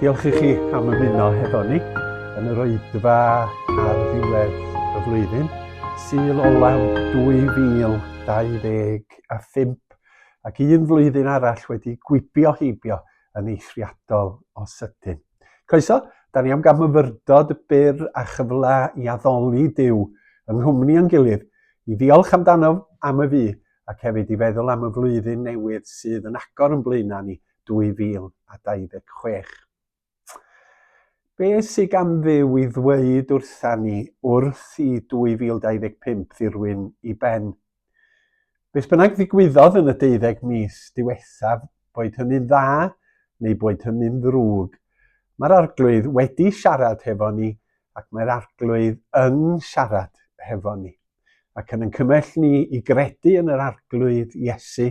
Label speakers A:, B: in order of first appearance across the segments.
A: Diolch i chi am ymuno hefo ni yn yr oedfa ar ddiwedd y flwyddyn, syl olaf 2025, ac un flwyddyn arall wedi gwibio heibio yn eithriadol o sydyn. Croeso, da ni am gael myfyrdod byr a chyfle i addoli Dyw yng nghwmni o'n gilydd, i ddiolch amdano am y fu, ac hefyd i feddwl am y flwyddyn newydd sydd yn agor yn blaenau ni, 2026. Be sydd gan ddiw i ddweud wrtha ni wrth i 2025 ddirwyn i ben? Beth bynnag ddigwyddodd yn y deuddeg mis diwethaf, boed hynny'n dda neu boed hynny'n ddrwg, mae'r arglwydd wedi siarad hefo ni ac mae'r arglwydd yn siarad hefo ni. ac yn yn cymell ni i gredu yn yr arglwydd Iesu,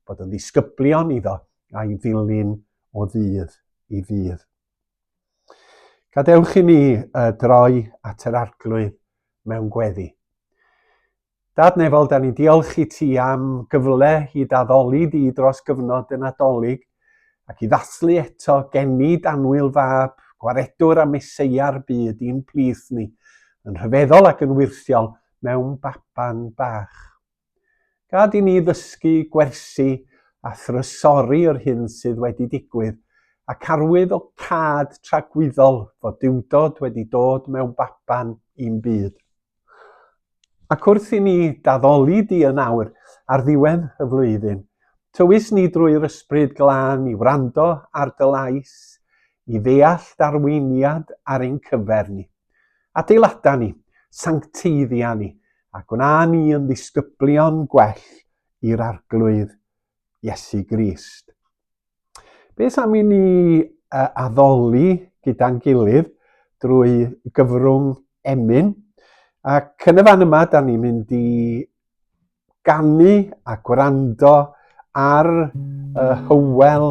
A: bod yn ddisgyblion iddo a'i ddilyn o ddydd i ddydd. Gadewch i ni uh, droi at yr arglwydd mewn gweddi. Dad Nefol, da ni'n diolch i ti am gyfle i daddoli di dros gyfnod y Nadolig Ac i ddathlu eto, genid anwyl fab, gwaredwr a meseia'r byd i'n plith ni, yn rhyfeddol ac yn wyrthiol mewn baban bach. Gad i ni ddysgu, gwersi a thrysori yr hyn sydd wedi digwydd, ac arwydd o cad tragwyddol fod diwdod wedi dod mewn baban i'n byd. Ac wrth i ni daddoli di yn awr ar ddiwedd y flwyddyn, tywys ni drwy'r ysbryd glân i wrando ar dy lais, i ddeall darweiniad ar ein cyfer ni. Adeilada ni, sancteiddia ni, a gwna ni yn ddisgyblion gwell i'r arglwydd Iesu Grist. Beth am i ni uh, addoli gyda'n gilydd drwy gyfrwng emyn. Ac yn y fan yma, da ni'n mynd i ganu a gwrando ar uh, Hywel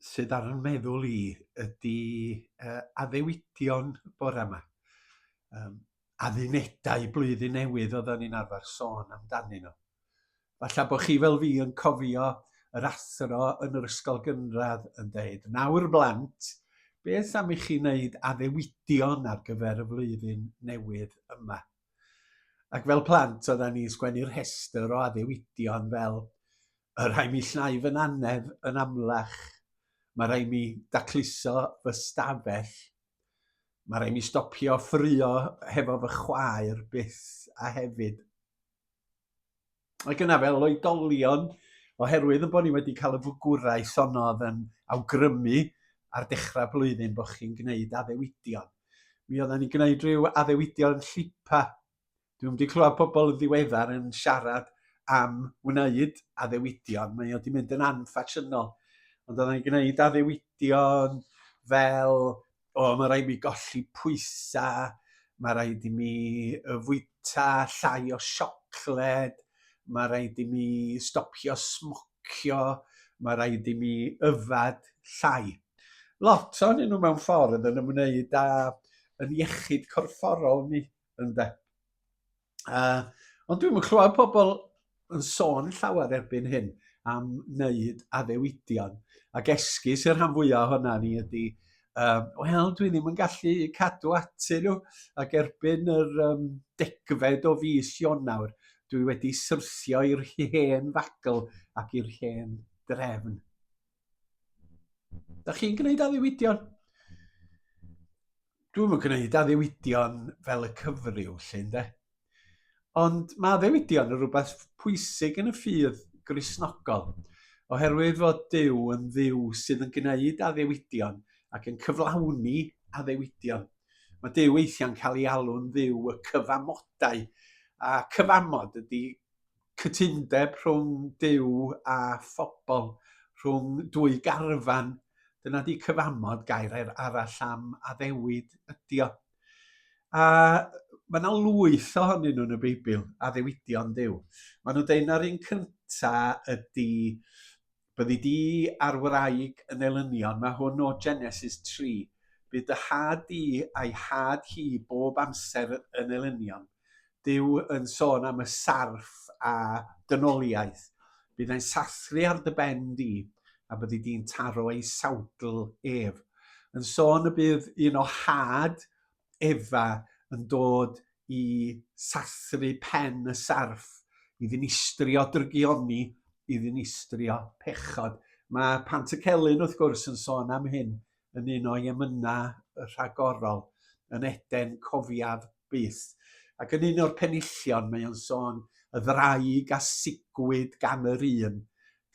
A: sydd ar yn meddwl i ydy uh, addewidion bore yma. Um, addunedau blwyddyn newydd oedden ni'n arfer sôn amdanyn nhw. Falle bod chi fel fi yn cofio yr athro yn yr ysgol gynradd yn dweud, nawr blant, beth am i chi wneud addewidion ar gyfer y flwyddyn newydd yma? Ac fel plant, oedden ni'n sgwennu'r rhestr o addewidion fel y rhai mi llnau fy nannedd yn amlach, mae rhai mi dacluso fy stafell, mae rhai mi stopio ffrio hefo fy chwaer byth a hefyd. Ac yna fel oedolion, oherwydd yn bod ni wedi cael y fwgwraeth honno oedd yn awgrymu ar dechrau blwyddyn bod chi'n gwneud addewidion. Mi oedden ni'n gwneud rhyw addewidion llipa Dwi'n wedi clywed pobl yn ddiweddar yn siarad am wneud addewidion. Mae wedi mynd yn anffasiynol. Ond oedden ni'n gwneud addewidion fel, o, mae rhaid mi golli pwysau, mae rhaid i mi fwyta llai o siocled, mae rhaid i mi stopio smocio, mae rhaid i mi yfad llai. Lot o'n nhw mewn ffordd yn ymwneud â yn iechyd corfforol ni. Ynde. Uh, ond dwi'n clywed pobl yn sôn llawer erbyn hyn am wneud addewidion. Ac esgus i'r rhan fwyaf ohono ni ydy, um, wel, dwi ddim yn gallu cadw ati nhw, ac erbyn yr um, degfed o fus Ionawr, dwi wedi syrthio i'r hen fagl ac i'r hen drefn. Da chi'n gwneud addewidion? Dwi'm yn gwneud addewidion fel y cyfryw, lle, de? Ond mae addewidion yn rhywbeth pwysig yn y ffydd grisnogol, oherwydd fod Duw yn ddiw sydd yn gwneud addewidion ac yn cyflawni addewidion. Mae Duw weithiau'n cael ei alw'n ddiw y cyfamodau, a cyfamod ydy cytundeb rhwng Duw a phobl, rhwng dwy garfan. Dyna 'di cyfamod, gair er arall am addewid ydi o. A mae yna lwyth ohonyn nhw yn y Beibl, addewidion Duw. Mae nhw'n dweud na'r un cynta ydi Byddi di a'r wraig yn elynion, mae hwn o Genesis 3. Bydd dy had di a'i had hi bob amser yn elynion. Duw yn sôn am y sarff a dynoliaeth. Bydd e'n sathru ar dy ben di, a byddi di'n taro ei sawdl ef. Yn sôn y bydd un o had Efa yn dod i sathru pen y sarff, i ddinistrio drygioni, i ddinistrio pechod. Mae Pant y Celyn, wrth gwrs, yn sôn am hyn yn un o'i emynau rhagorol, yn Eden cofiaf byth. Ac yn un o'r penillion mae o'n sôn y ddraig a sigwyd gan yr un,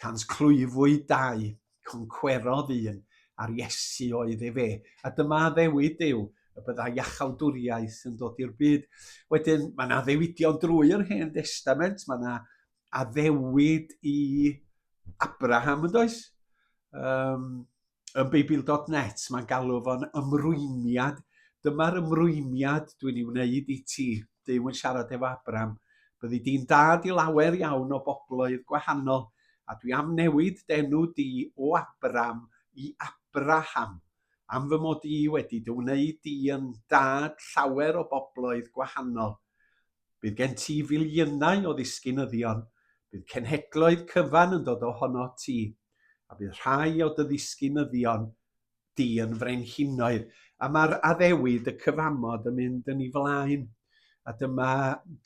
A: cant clwyfwyd dau, Concwerodd un ar Iesu oedd efe, a dyma addewid yw y byddai iachawdwriaeth yn dod i'r byd. Wedyn, mae yna addewidion drwy yr Hen Destament, mae yna addewid i Abraham yn does? Um, yn Beibl.net, mae'n galw fo'n ymrwymiad. Dyma'r ymrwymiad dwi'n ei wneud i ti. Duw yn siarad efo Abram, byddi di'n dad i lawer iawn o bobloedd gwahanol, a dwi am newid denw di o Abram i Abraham, am fy mod i wedi dy wneud di yn dad llawer o bobloedd gwahanol. Bydd gen ti filiynau o ddisgynyddion, bydd cenhedloedd cyfan yn dod ohono ti, a bydd rhai o dy ddisgynyddion di yn frenhinoedd, a mae'r addewid, y cyfamod yn mynd yn ei flaen. A dyma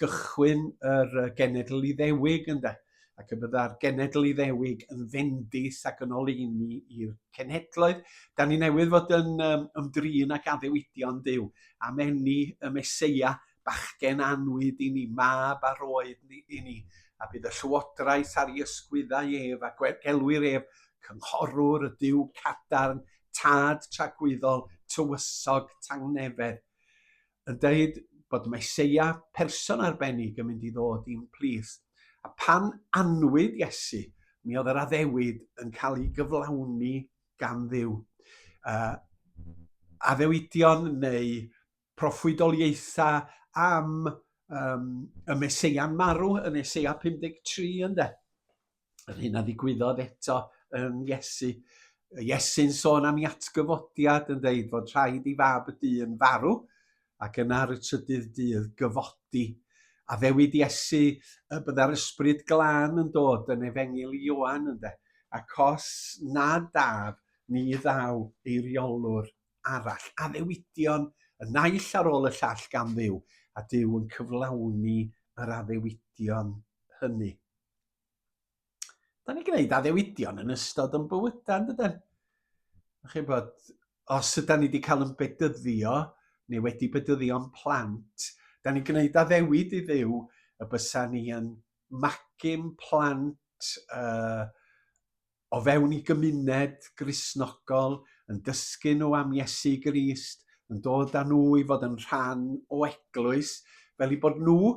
A: gychwyn yr genedl iddewig ynde, ac y bydda'r genedl iddewig yn fendus ac yn oleini i'r cenhedloedd. Da ni newydd fod yn um, ymdrin ac addewidion Dyw am enni y Mesoea bachgen annwyd i ni, mab a roed ni i ni, a bydd y llywodraeth ar ei ysgwyddau ef, a gelwir ef Cynghorwr y Duw Cadarn, Tad Tragwyddol, Tywysog, Tangnefedd, yn dweud bod Meseia person arbennig yn mynd i ddod i'n plith. A pan anwyd Iesu, mi oedd yr addewid yn cael ei gyflawni gan ddiw. Uh, addewidion neu proffwydoliaethau am um, y Meseia'n marw yn Eseia 53 ynde. Yr hyn a ddigwyddodd eto yn Iesu. Iesu'n sôn am i atgyfodiad yn dweud fod rhaid i fab y dyn farw ac yna ar y trydydd dydd gyfodi. A ddewyd Iesu y bydda'r ysbryd glân yn dod yn efengil i Ioan ynde, ac os nad daf ni ddaw eiriolwr arall, addewidion y naill ar ôl y llall gan ddiw, a Dyw yn cyflawni yr addewidion hynny. Da ni'n gwneud addewidion yn ystod yn bywydau, yn dydyn? Chi bod, os ydy ni wedi cael yn bedyddio, neu wedi bedyddio'n plant, da ni'n gwneud addewid i ddiw y bysa ni yn magim plant uh, o fewn ei gymuned Gristnogol, yn dysgu nhw am Iesu Grist, yn dod â nhw i fod yn rhan o eglwys, fel i bod nhw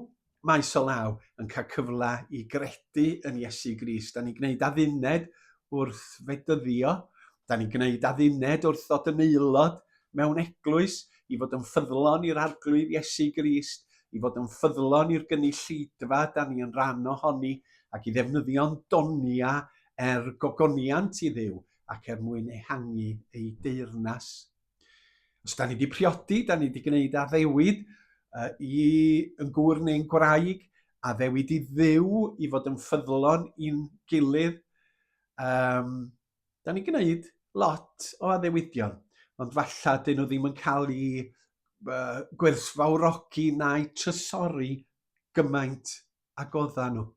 A: maes o law yn cael cyfle i gredu yn Iesu Grist. Da ni'n gwneud adduned wrth fedyddio, da ni'n gwneud adduned wrth ddod yn aelod mewn eglwys, i fod yn ffyddlon i'r arglwydd Iesu Grist, i fod yn ffyddlon i'r gynulleidfa da ni yn rhan ohoni ac i ddefnyddio'n donia er gogoniant i ddiw ac er mwyn ehangu ei deyrnas. Os da ni wedi priodi, da ni wedi gwneud addewid uh, i yn gŵr neu'n gwraig, addewid i ddiw i fod yn ffyddlon i'n gilydd, um, da ni'n gwneud lot o addewidion, ond falla dyn nhw ddim yn cael eu uh, gwerthfawrogi na'u trysori gymaint a godda nhw.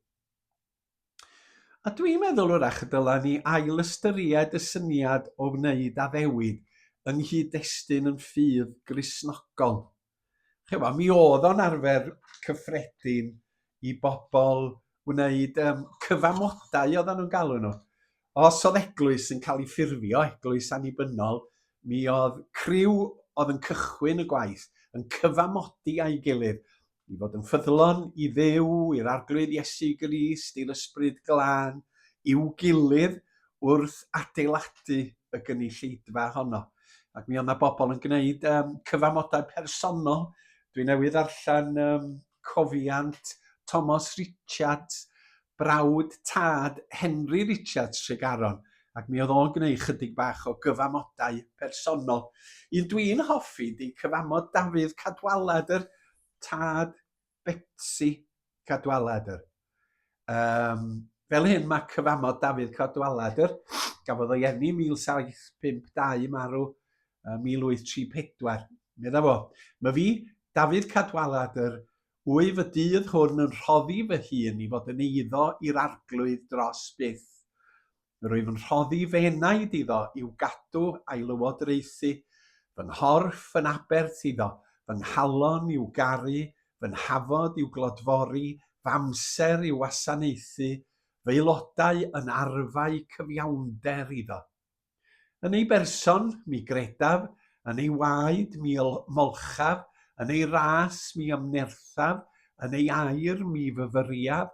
A: A dwi'n meddwl wrach y dyla ni ail ystyried y syniad o wneud addewid yng nghyd-destun yn ffydd grisnogol. chymod, mi oedd o'n arfer cyffredin i bobl wneud um, cyfamodau oedden nhw'n galw nhw. Os oedd eglwys yn cael ei ffurfio, eglwys annibynnol, mi oedd criw oedd yn cychwyn y gwaith yn cyfamodi a'i gilydd i fod yn ffyddlon i ddew, i'r arglwydd Iesu Grist, i'r ysbryd glân, i'w gilydd, wrth adeiladu y gynulleidfa honno. Ac mi oedd yna bobl yn gwneud um, cyfamodau personol. Dwi newydd allan um, cofiant Thomas Richards, brawd tad Henry Richards Tregaron, ac mi oedd o'n gwneud chydig bach o gyfamodau personol. Un dwi'n hoffi di cyfamod Dafydd Cadwaladr, tad Betsi Cadwaladr. Um, fel hyn mae cyfamod Dafydd Cadwaladr, gafodd o'i enni 1752 marw 1834. Medda fo, mae fi, Dafydd Cadwaladr, wyf y dydd hwn yn rhoddi fy hun i fod yn eiddo i'r arglwydd dros byth. Rwyf yn rhoddi fy enaid iddo i'w gadw a'i lywodraethu, fy nghorff yn abert iddo, fy nghalon i'w garu, fy nhafod i'w glodfori, f'amser i'w wasanaethu, f'aelodau yn arfau cyfiawnder iddo. Yn ei berson, mi gredaf, yn ei waed, mi ymolchaf, yn ei ras, mi ymnerthaf, yn ei air, mi fyfyriaf,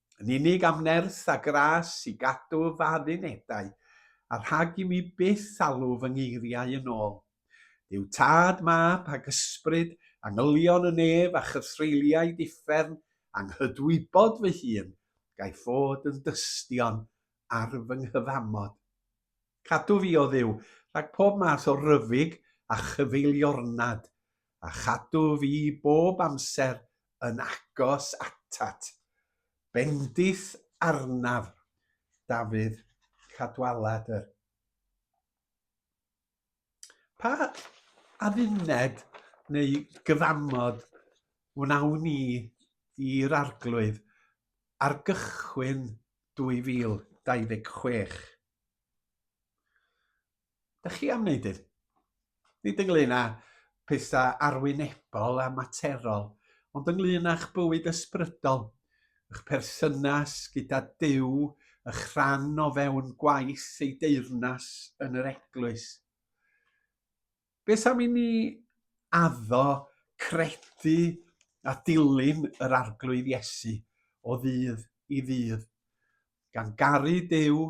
A: yn unig am nerth a gras i gadw fy unedau, a rhag i mi byth alw fy ngeiriau yn ôl. Duw Tad, Mab, ac Ysbryd, angylion y nef a chythreuliaid uffern, anghydwybod fy hun, gaiff fod yn dystion ar fy nghyfamod. Cadw fi, o Dduw, rhag pob math o ryfyg a chyfeiliornad, a chadw fi bob amser yn agos atat. Bendith arnaf, Dafydd Cadwaladr. Pa adduned neu gyfamod wnawn ni i'r Arglwydd ar gychwyn 2026? Dych chi am wneud hyn? Nid ynglyn â pethau arwynebol a materol, ond ynglyn â'ch bywyd ysbrydol, eich perthynas gyda Duw, eich rhan o fewn gwaith ei deyrnas yn yr Eglwys. Beth am i ni addo credu a dilyn yr arglwydd Iesu o ddydd i ddydd? gan garu Duw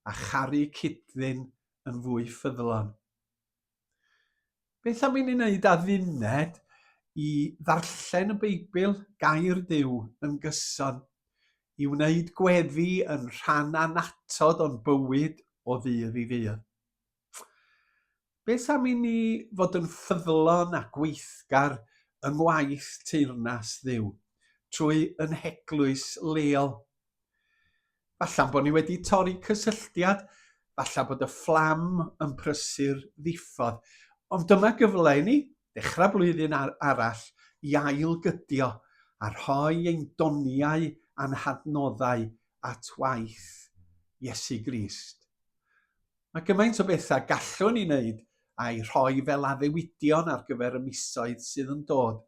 A: a charu cyd-ddyn yn fwy ffyddlon. Beth am i ni wneud adduned i ddarllen y Beibl, gair Duw, yn gyson, i wneud gweddi yn rhan anatod o'n bywyd o ddydd i ddydd? Beth am i ni fod yn ffyddlon a gweithgar yng ngwaith teyrnas Dduw trwy yn heglwys leol? Falla'n bod ni wedi torri cysylltiad, falla bod y fflam yn prysur ddiffodd, ond dyma gyfle i ni ddechrau blwyddyn arall i ailgydio a rhoi ein doniau a'n hadnoddau at waith Iesu Grist. Mae gymaint o bethau gallwn ni wneud a'i rhoi fel addewidion ar gyfer y misoedd sydd yn dod.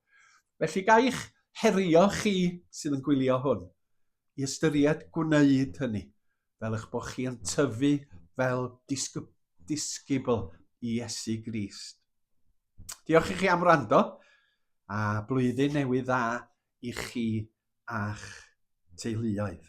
A: Felly ga i'ch herio chi sydd yn gwylio hwn i ystyried gwneud hynny, fel eich bod chi yn tyfu fel disgybl disgybl i Iesu Grist. Diolch i chi am wrando a blwyddyn newydd dda i chi a'ch teuluoedd.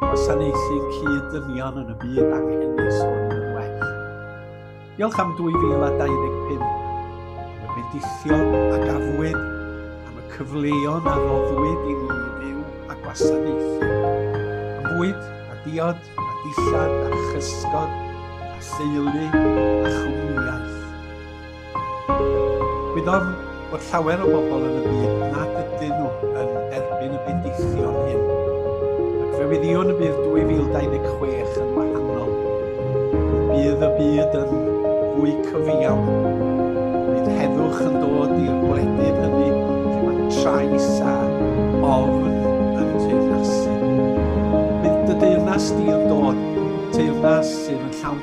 A: Gwasanaethu cyd-ddynion yn y byd anghennus hwn yn well. Diolch am 2025, am y bedillion a gafwyd, am y cyfleon a roddwyd i ni i fyw a gwasanaethu. Am fwyd a diod a dillad a chysgod a theulu a chwmnïaeth. Gwyddom bod llawer o bobl yn y byd nad ydyn nhw yn derbyn y pendeithion hyn, ac fe wyddïwn y bydd 2026 yn wahanol. Bydd y byd yn fwy cyfiawn. Bydd heddwch yn dod i'r gwledydd hynny lle mae trais a ofn yn teyrnasu. Bydd dy deyrnas di'n dod, teyrnas sydd yn llawn